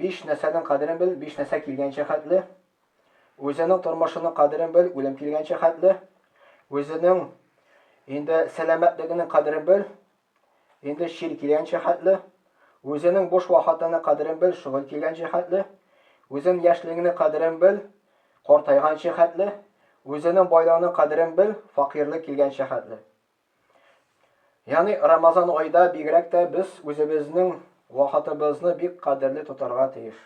Биш нәрсәнең кадерен бел, биш нәрсә килгәнчә хәтле. Үзенең тормышының кадерен бел, үлем килгәнчә хәтле. Үзенең инде сәламәтлегенең кадерен бел, инде чир килгәнчә хәтле. Үзенең буш вакытының кадерен бел, шөгыль килгәнчә хәтле. Үзенең яшьлегеңнең кадерен бел, картайганчы хәтле. Үзенең байлыгының кадерен бел, факыйрлык килгәнчә хәтле. Яни Рамазан айда бигрәк тә без үзебезнең вакытыбызны бик кадерле тотарга тиеш.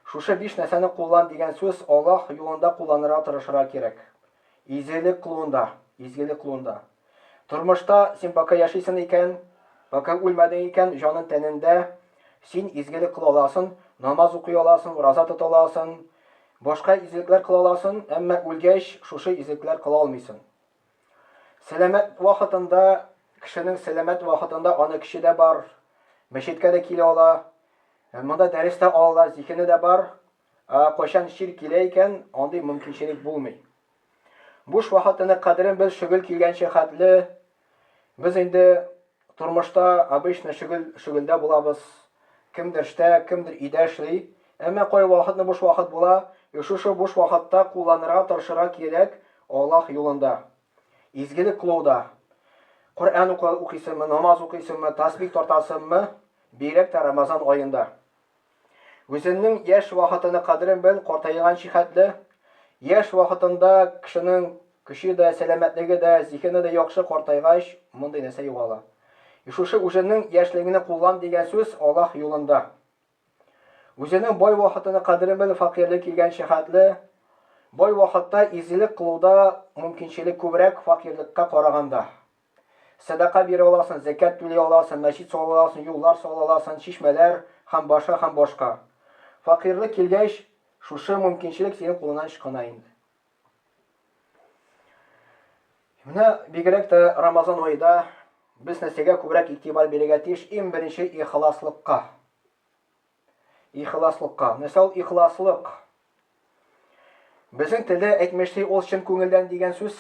Шушы биш нәрсәне куллан дигән сүз Аллаһ юлында кулланырга тырышырга кирәк. Изелек кылуында, изгелек кылуында. Тормышта син пока яшисен икән, пока үлмәдең икән, җанын тәнендә, син изгелек кыла аласын, намаз укый аласын, ураза тота аласын, башка изелекләр кыла аласын, әмма үлгәч шушы изелекләр кыла алмыйсын. Сәламәт вакытында, кешенең сәламәт вакытында аны көче дә бар, мәчеткә дә килә ала, монда дәрес тә алалар, зиһене дә бар. Ә кайчан чир килә икән, андый мөмкинчелек булмый. Буш вакытының кадерен без шөгыль килгәнчә хәтле, без инде Тормышта обычно шөгель шөгелдә булабыз, кемдер эштә, кемдер өйдә эшли. Әмма кайвакытны буш вакыт була, и шушы буш вакытта кулланырга тырышырга кирәк Аллаһ юлында. Изгелек кылуда. Коръән укыйсыңмы, намаз укыйсыңмы, тасбих тартасыңмы, бигрәк тә Рамазан аенда. Үзеңнең яшь вакытының кадерен бел, картайганчы хәтле. Яшь вакытында кешенең көче дә, сәламәтлеге дә, зиһене дә яхшы, картайгач, мондый нәрсә югала. И шушы үзеңнең яшьлегеңне куллан дигән сүз Аллаһ юлында. Үзеңнең бай вакытының кадерен бел, факирлек килгәнче хәтле. Бай вакытта изгелек кылуда мөмкинчелек күбрәк факирлыкка караганда. Сәдака бирә аласың, зәкят түли аласың, мәчет сала аласың, юллар сала аласың, чишмәләр һәм башка һәм башка. Факыйрлык килгәч, шушы мөмкинчелек синең кулыңнан ычкына инде. Менә бигрәк тә Рамазан аеда без нәрсәгә күбрәк игътибар бирергә тиеш? Иң беренче ихласлыкка. Ихласлыкка. Нәрсә ул ихласлык? Безнең телдә әйтмешли, ул чын күңелдән дигән сүз.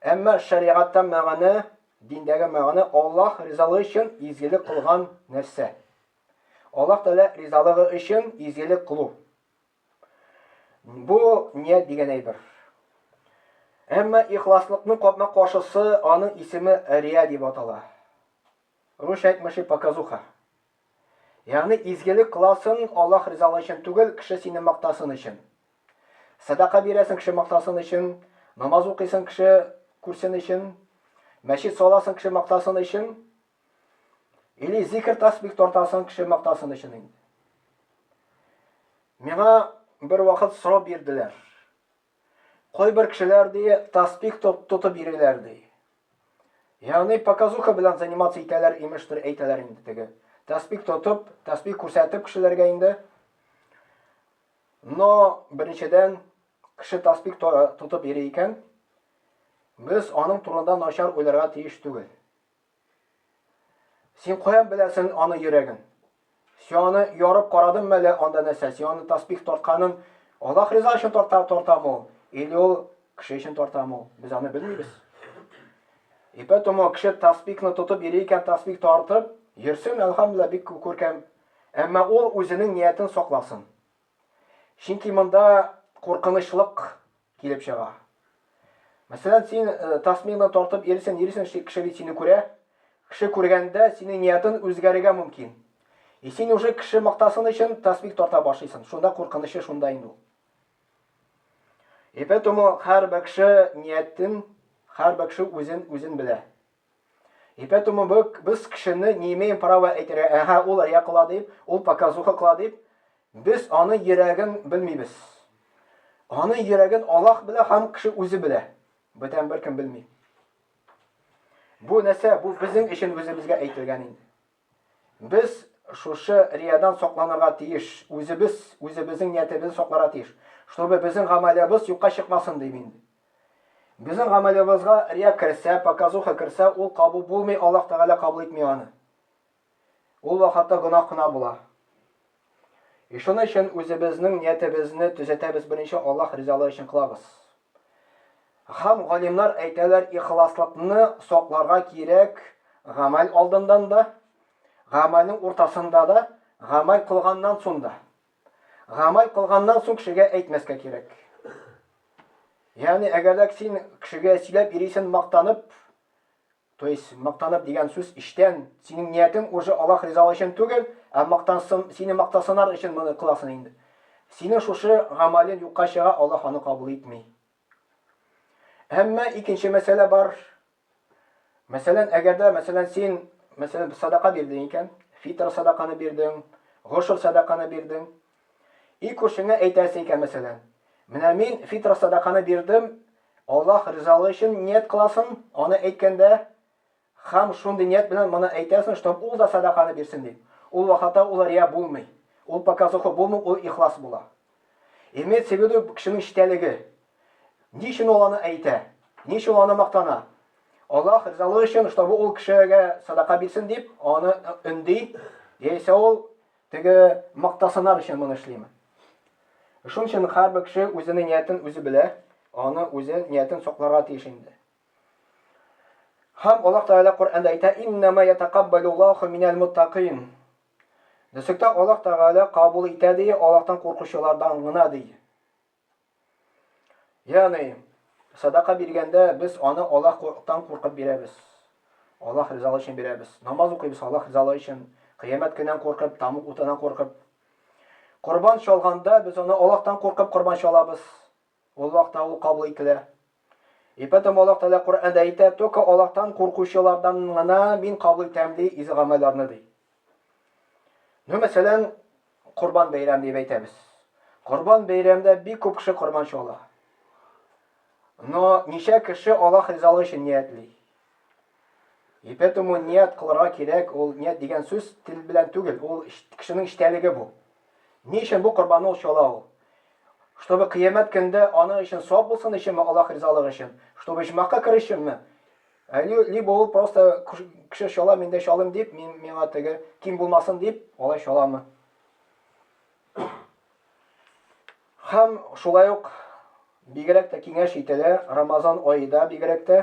Әмма шәригатьтә мәгънә, диндәге мәгънә Аллаһ ризалыгы өчен изгелек кылган нәрсә. Аллаһ Тәгалә ризалыгы өчен изгелек кылу. Бу ният дигән әйбер. Әмма ихласлыкның капма каршысы аның исеме рия дип атала. Русча әйтмешли показуха. Ягъни изгелек кыласың Аллаһ ризалыгы өчен түгел, кеше сине мактасын өчен. Сәдака бирәсең кеше мактасын өчен, намаз укыйсың кеше күрсен өчен, мәчет саласың кеше мактасын өчен, или зикер тәсбих тартасың кеше мактасын өчен инде. Миңа бервакыт сорау бирделәр. Кайбер кешеләр, ди, таспих тотып йөриләр, ди. Ягъни показуха белән заниматься итәләр, имештер, әйтәләр инде теге. Таспих тотып, таспих күрсәтеп кешеләргә инде. Но беренчедән кеше таспих тотып йөри икән, без аның турында начар уйларга тиеш түгел. Син каян беләсен аны йөрәген? Син аны ярып карадым мәле анда нәрсә? Син аны тасбих тартканын Аллах риза өчен тарта тартамы ул? Или ул кеше өчен тартамы ул? Без аны белмибез. И поэтому кеше тасбихны тотып йөри икән, тасбих тартып йөрсен, әлхәмдулилла, бик күркәм. Әмма ул үзенең ниятен сакласын. Чөнки монда куркынычлык Килеп чыга. Мәсәлән, син тасмина тартып йөрисең, йөрисең, кеше бит сине күрә. Кеше күргәндә, синең ниятың үзгәрергә мөмкин. И син уже кеше мактасын өчен тасмик тарта башлыйсың. Шунда куркынычы шунда инде ул. И поэтому һәрбер кеше ниятен, һәрбер кеше үзен, үзен белә. И пэтому бы без кешене не имеем права әйтергә, әһә, ул рия кыла дип, ул показуха кыла дип, без аның йөрәген белмибез. Аның йөрәген Аллаһ белә һәм кеше үзе белә. Бүтән беркем белми. Бу нәрсә, бу безнең өчен үзебезгә әйтелгән инде. Без шушы риядән сакланырга тиеш, үзебез, үзебезнең ниятебезне сакларга тиеш, чтобы безнең гамәлебез юкка чыкмасын, дим инде. Безнең гамәлебезгә рия керсә, показуха керсә, ул кабул булмый, Аллаһ Тәгалә кабул итми аны. Ул вакытта гөнаһ кына була. И шуны өчен үзебезнең ниятебезне төзәтәбез беренче Аллаһ ризалыгы өчен кылабыз. Хам галимнар әйтәләр ихласлыкны сакларга кирәк гамәл алдындан да, гамәлнең уртасында да, гамәл кылганнан сон да. Гамәл кылганнан сон кешегә әйтмәскә кирәк. Ягъни әгәрләк син кешегә сөйләп ирисен мактанып, То есть мактанып дигән сүз эчтән, синең ниятең уже Аллаһ ризалыгы өчен түгел, ә мактансын, сине мактасынар өчен моны кыласың инде. Синең шушы гамәлең юкка чыга, Аллаһ аны кабул итми. Әмма икенче мәсьәлә бар. Мәсәлән, әгәр дә, мәсәлән, син, мәсәлән, садака бирдең икән, фитр садаканы бирдең, гошр садаканы бирдең, И күршеңә әйтәсе икән, мәсәлән, Менә мин фитра-садаканы бирдем, Аллаһ ризалыгы өчен ният кыласың, аны әйткәндә, хәм шундый ният белән моны әйтәсең, чтоб ул да садаканы бирсен дип, ул вакытта ул рия булмый, ул показуха булмый, ул ихлас була. Имеется в виду кешенең читәлеге. Ни өчен ул аны әйтә? Ни өчен ул аны мактана? Аллаһ ризалыгы өчен, чтобы ул кешегә садака бирсен дип, аны өнди, яисә ул Теге мактасынар өчен моны эшлиме? Шуның өчен һәрбер кеше үзенең ниятен үзе белә, аны үзе ниятен сакларга тиеш инде. Һәм Аллаһ Тәгалә Коръәндә әйтә: "Иннама ятакаббалуллаху минәл муттакин". Дөреслектә Аллаһ Тәгалә кабул итә ди, Аллаһтан куркучылардан гына ди. Ягъни, садака биргәндә без аны Аллаһтан куркып бирәбез. Аллаһ ризалыгы өчен бирәбез. Намаз укыйбыз Аллаһ ризалыгы өчен, кыямәт көненнән куркып, тамук утыннан куркып. Корбан чалганда без аны Аллаһтан куркып корбан чалабыз. Аллаһта ул кабул ителә. И потом Аллаһ Тәгалә Коръәндә әйтә, Только Аллаһтан куркучылардан гына Мин кабул итәм, ди, изге гамәлләрне, ди. Ну, мәсәлән, Корбан бәйрәм дип әйтәбез. Корбан бәйрәмдә бик күп кеше корбанчы ала. Но ничә кеше Аллаһ ризалыгы өчен ниятли? Ипә-тому ният кылырга кирәк, ул ният дигән сүз тел белән түгел, ул кешенең эчтәлеге бу. Ни өчен бу корбанны ул чала ул? Чтобы кыямәт көнендә аның өчен савап булсын өченме, Аллаһ ризалыгы өчен? Чтобы оҗмахка керү өченме? Либо ул просто кеше чала, мин дә чалыйм дип, мин, миңа теге ким булмасын дип, алай чаламы? Һәм шулай ук бигрәк тә киңәш ителә, Рамазан аеда бигрәк тә.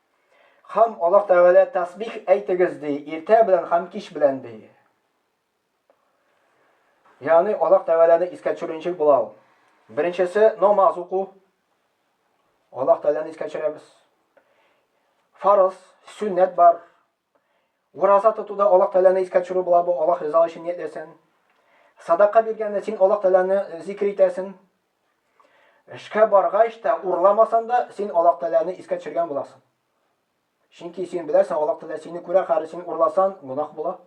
Хам Аллаһ Тәгалә тәсбих әйтегез ди, иртә белән хам кич белән ди. Яни Аллаһ Тәгаләне искә төшерүенче була ул. Беренчесе намаз уку. Аллаһ Тәгаләне искә төшерәбез. Фарыз, сүннәт бар. Ураза тотуда Аллаһ Тәгаләне искә төшерү була бу, Аллаһ ризалыгы өчен ниятләсәң. Садака биргәндә син Аллаһ Тәгаләне зикер итәсең. Эшкә баргач та, урламасаң да, син Аллаһ Тәгаләне искә төшергән буласың. Чөнки син беләсең, Аллаһ Тәгалә сине күрә, хәзер син урласан, гөнаһ була.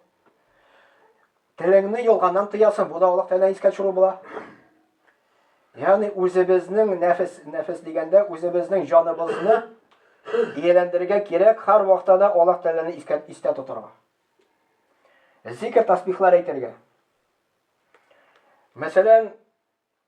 Телеңне ялганнан тыясың, бу да Аллаһ Тәгаләне искә төшерү була. Ягъни үзебезнең нәфес, нәфес дигәндә үзебезнең җаныбызны ияләндерергә кирәк, һәр вакытта да Аллаһ Тәгаләне искә истә тотарга. Зикр тасбихлар әйтергә. Мәсәлән,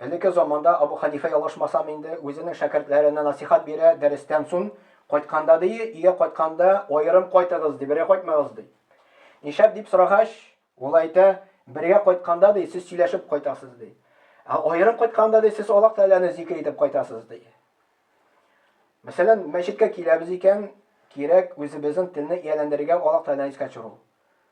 Элекке заманда Абу Хәнифә ялгышмасам инде, үзенең шәкертләренә насыйхат бирә, дәрестән сун кайтканда ди, өйгә кайтканда аерым кайтыгыз ди, бергә кайтмагыз ди. Нишәп дип сорагач, ул әйтә, бергә кайтканда ди, сез сөйләшеп кайтасыз ди. Ә аерым кайтканда ди, сез Аллаһ Тәгаләне зикер итеп кайтасыз ди. Мәсәлән, мәчеткә киләбез икән, кирәк үзебезнең телне ияләндерергә, Аллаһ Тәгаләне искә төшерү.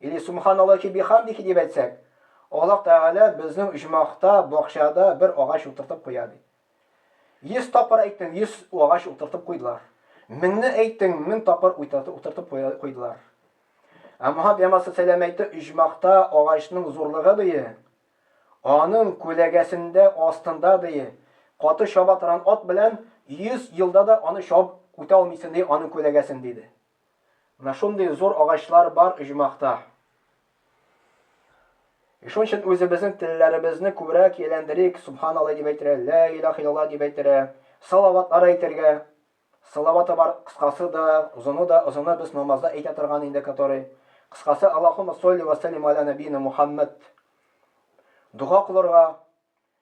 Или Субханаллахи бихамдихи дип әйтсәк, Аллаһ Тәгалә безнең оҗмахта, бакчада бер агач утыртып куя, ди. Йөз тапкыр әйттең, йөз агач утыртып куйдылар. Меңне әйттең, мең тапкыр утыртып куйдылар. Ә Мухаммад Ямас Сәләм әйтте, оҗмахта агачның зурлыгы, ди, аның күләгәсендә, астында, ди, каты чаба торган ат белән йөз елда да аны чабып үтә алмыйсың, ди, аның күләгәсен, диде. Менә шундый зур агачлар бар оҗмахта. И шуның өчен үзебезнең телләребезне күбрәк ияләндерик, Субханаллаһ дип әйтергә, Лә илаһ иллаллаһ дип әйтергә, салаватлар әйтергә. Салаваты бар, кыскасы да, озыны да, озыны без намазда әйтә торган инде, который. Кыскасы, Аллаһуммә солли вә сәллим галә нәбийина Мухаммәд. Дога кылырга,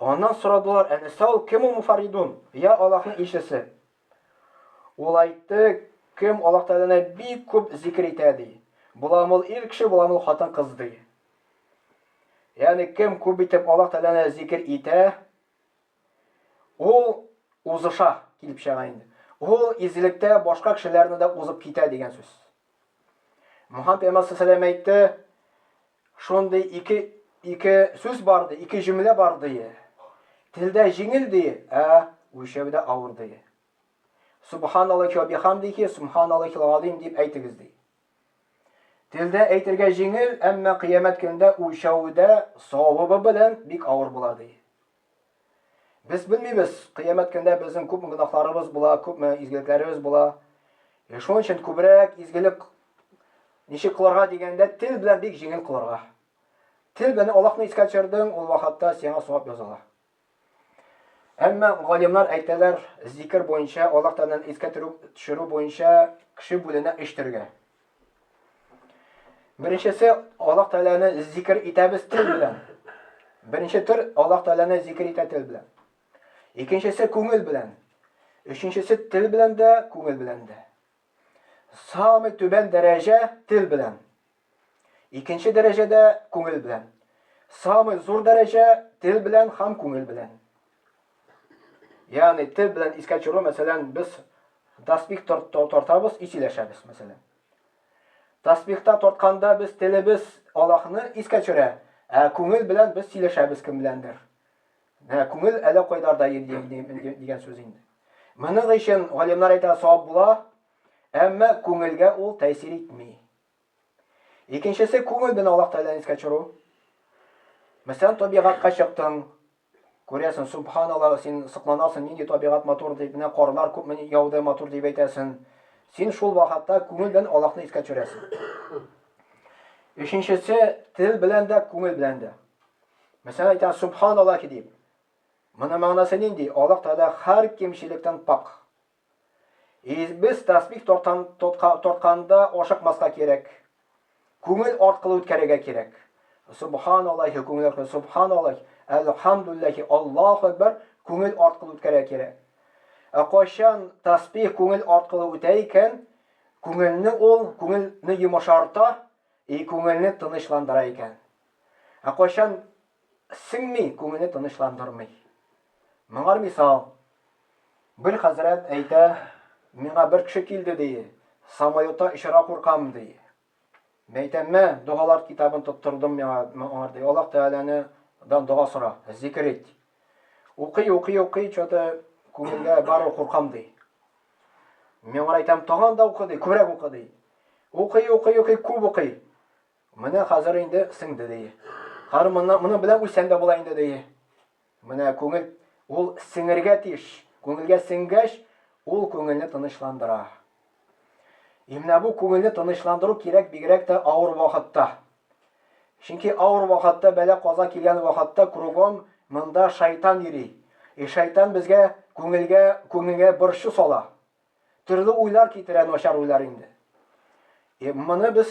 Аннан сорадылар, Ә нәрсә ул, кем ул Муфарридун? Йә Аллаһның илчесе. Ул әйтте, Кем Аллаһ Тәгаләне бик күп зикер итә, ди. Буламыл ир кеше, буламыл хатын-кыз, ди. Ягъни кем күп итеп Аллаһ Тәгаләне зикер итә, ул узыша, килеп чыга инде. Ул изгелектә башка кешеләрне дә узып китә дигән сүз. Мухаммәд пәйгамбәр салләлләһу галәйһи ва сәлләм әйтте, Шундый ике ике сүз бар ди, ике җөмлә бар ди. Телдә җиңел ди, ә үлчәүдә авыр ди. Субханаллахи ва бихамдихи, субханаллахил газим дип әйтегез ди. Телдә әйтергә җиңел, әмма кыямәт көндә үлчәүдә савабы белән бик авыр була ди. Без белмибез, кыямәт көндә безнең күпме гөнаһларыбыз була, күпме изгелекләребез була. Е, шуның өчен күбрәк изгелек ничек кылырга дигәндә, тел белән бик җиңел кылырга. Тел белән Аллаһны искә төшердең, ул вакытта сиңа савап языла. Әмма галимнар әйтәләр, зикер буенча, Аллаһ Тәгаләне искә төшерү буенча кеше бүленә өч төргә. Беренчесе Аллаһ Тәгаләне зикр итәбез тел белән. Беренче төр Аллаһ Тәгаләне зикр итә тел белән. Икенчесе күңел белән. Өченчесе тел белән дә, күңел белән дә. Самый түбән дәрәҗә тел белән. Икенче дәрәҗәдә күңел белән. Самый зур дәрәҗә тел белән һәм күңел белән. Ягъни тел белән искә төшерү, мәсәлән, без таспих тартабыз, ис иләшәбез, мәсәлән. Таспихта тартканда без телебез Аллаһны искә төшерә, ә күңел белән без сөйләшәбез кем беләндер. Ә күңел әле кайларда дигән сүз инде. Моның өчен галимнар әйтә, савап була, әмма күңелгә ул тәэсир итми. Икенчесе күңел белән Аллаһ Тәгаләне искә төшерү. Мәсәлән, табигатька чыктың, күрәсең, субханалла, син сокланасың, нинди табигать матур дип, менә карлар күпме яуды, матур дип әйтәсең. Син шул вакытта күңел белән Аллаһны искә төшерәсең. Өченчесе тел белән дә, күңел белән дә. Мәсәлән, әйтәм, субханалла дип. Моның мәгънәсе нинди? Аллаһ Тәгалә һәр кимчелектән пакъ. И без тәсбих тартан, тотка, тартканда ашыкмаска кирәк. Күңел аркылы үткәрергә кирәк. Субханаллахи күңел аркылы, субханаллахи, әлхамдуллахи, Аллаһу әкбәр күңел аркылы үткәрергә кирәк. Ә кайчан тәсбих күңел аркылы үтә икән, күңелне ул, күңелне йомышарта, и күңелне тынычландыра икән. Ә кайчан Сеңми, күңелне тынычландырмый. Моңар мисал. Бер хәзрәт әйтә, миңа бер кеше килде, ди, самолетта очарга куркам, ди. Мәйтәм, мә, догалар китабын тоттырдым миңа, моңар, ди, Аллаһ Тәгаләне дан дога сора, зикер ит. Укый, укый, укый, чоты күңелгә бар ул куркам, ди. Миңар әйтәм, таган да укы, ди, күбрәк укы, ди. Укый, укый, укый, күп укый. Менә хәзер инде сеңде, ди. Хәзер моннан, моның белән үлсәң дә була инде, ди. Менә күңел, ул сеңергә тиеш. Күңелгә сеңгәч, ул күңелне тынычландыра. И менә бу күңелне тынычландыру кирәк бигрәк тә авыр вакытта. Чөнки авыр вакытта, бәла-каза килгән вакытта кругом монда шайтан йөри. И шайтан безгә, күңелгә, күңелгә борчу сала. Төрле уйлар китерә начар уйлар инде. Э, моны без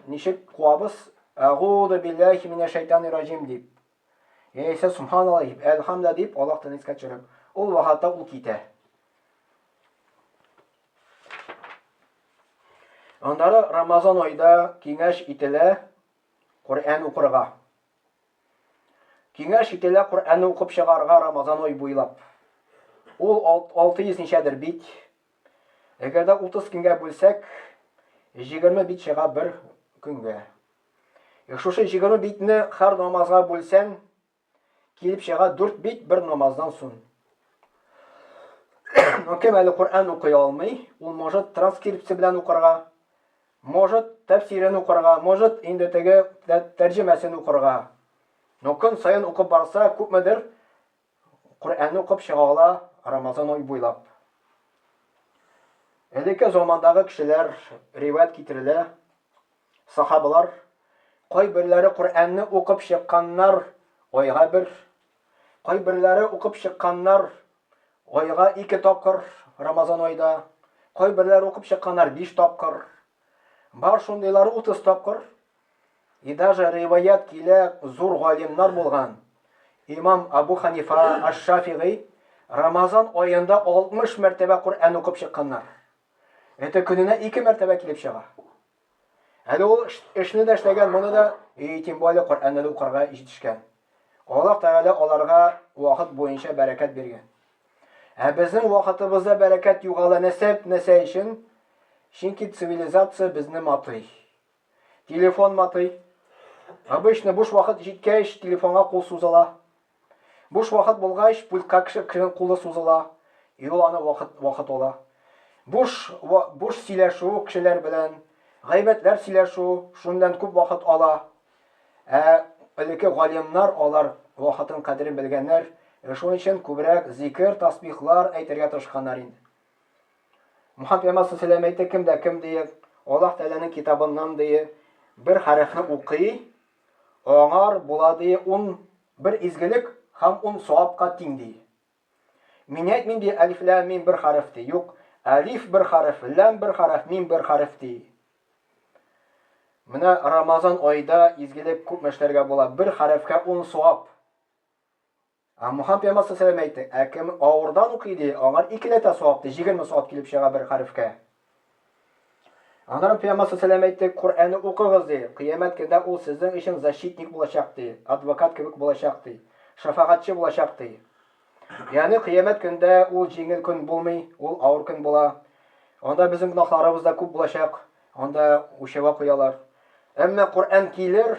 ничек куабыз? Агуду биллахи минә шайтани раҗим дип. Яисә субханаллаһ дип, әлхамда дип Аллаһ тәнискә төшереп, ул вакытта ул китә. Аннары Рамазан айда киңәш ителә Коръән укырга. Киңәш ителә Коръәнне укып чыгарга Рамазан ай буйлап. Ул алты йөз ничәдер бит. Әгәр дә утыз көнгә бүлсәк, җигерме бит чыга бер көнгә. Э, шушы җигерме битне һәр намазга бүлсәң, килеп чыга дүрт бит бер намаздан сон. Ну, кем әле Коръән укый алмый, ул может транскрипция белән укырга, Может, тәфсирен укырга, может, инде теге тәрҗемәсен укырга. Ну, көн саен укып барса, күпмедер Коръәнне укып чыга ала Рамазан ай буйлап. Элекке замандагы кешеләр, риваять китерелә, сахабалар, кайберләре Коръәнне укып чыкканнар айга бер, кайберләре укып чыкканнар Айга ике тапкыр Рамазан айда, кайберләр укып чыкканнар биш тапкыр. Бар шундыйлары утыз тапкыр. И даже риваять килә зур галимнар булган. Имам Абу Ханифа Аш-Шафигый Рамазан аенда 60 мәртәбә Коръән укып чыкканнар. Это көненә ике мәртәбә килеп чыга. Әле ул эшне дә эшләгән, моны да, и, тем более Коръәнне дә укырга җитешкән. Аллаһ Тәгалә аларга вакыт буенча бәрәкәт биргән. Ә безнең вакытыбызда бәрәкәт югала нәсәп нәсә өчен? Чөнки цивилизация безне матый. Телефон матый. Обычно буш вакыт җиткәч, телефонга кул сузыла. Буш вакыт булгач, пультка кешенең кулы сузыла, юлана вакыт, вакыт ала. Буш, буш сөйләшү кешеләр белән, гайбәтләр сөйләшү шуннан күп вакыт ала. Ә элекке галимнар, алар вакытның кадерен белгәннәр, шуның өчен күбрәк зикер, тасбихлар әйтергә тырышканнар инде. Мөхәммәд пәйгамбәр салләллаһу әйтте, кем дә кем, дие, Аллаһ Тәгаләнең китабыннан, дие, бер хәрефне укый, Аңар була ди ун бер изгелек һәм ун савапка тиң ди. Мин әйтмим ди Әлиф-ләм-мим бер хәреф ди, юк, Әлиф бер хәреф, Ләм бер хәреф, Мим бер хәреф ди. Менә Рамазан аида изгелек күпме эшләргә була, бер хәрефкә ун савап. Ә Муһам пәйгамбәр сәләм әйтте, Ә кем авырдан укый, ди, аңар икеләтә савап, ди, җигерме савап килеп чыга бер хәрефкә. Аннары пәйгамбәр сәләм әйтте, Коръәнне укыгыз, ди, кыямәт көндә ул сезнең өчен защитник булачак, ди, адвокат кебек булачак, ди, шәфәгатьче булачак, ди. Ягъни кыямәт көндә ул җиңел көн булмый, ул авыр көн була. Анда безнең гөнаһларыбыз да күп булачак, анда үлчәүгә куялар. Әмма Коръән килер,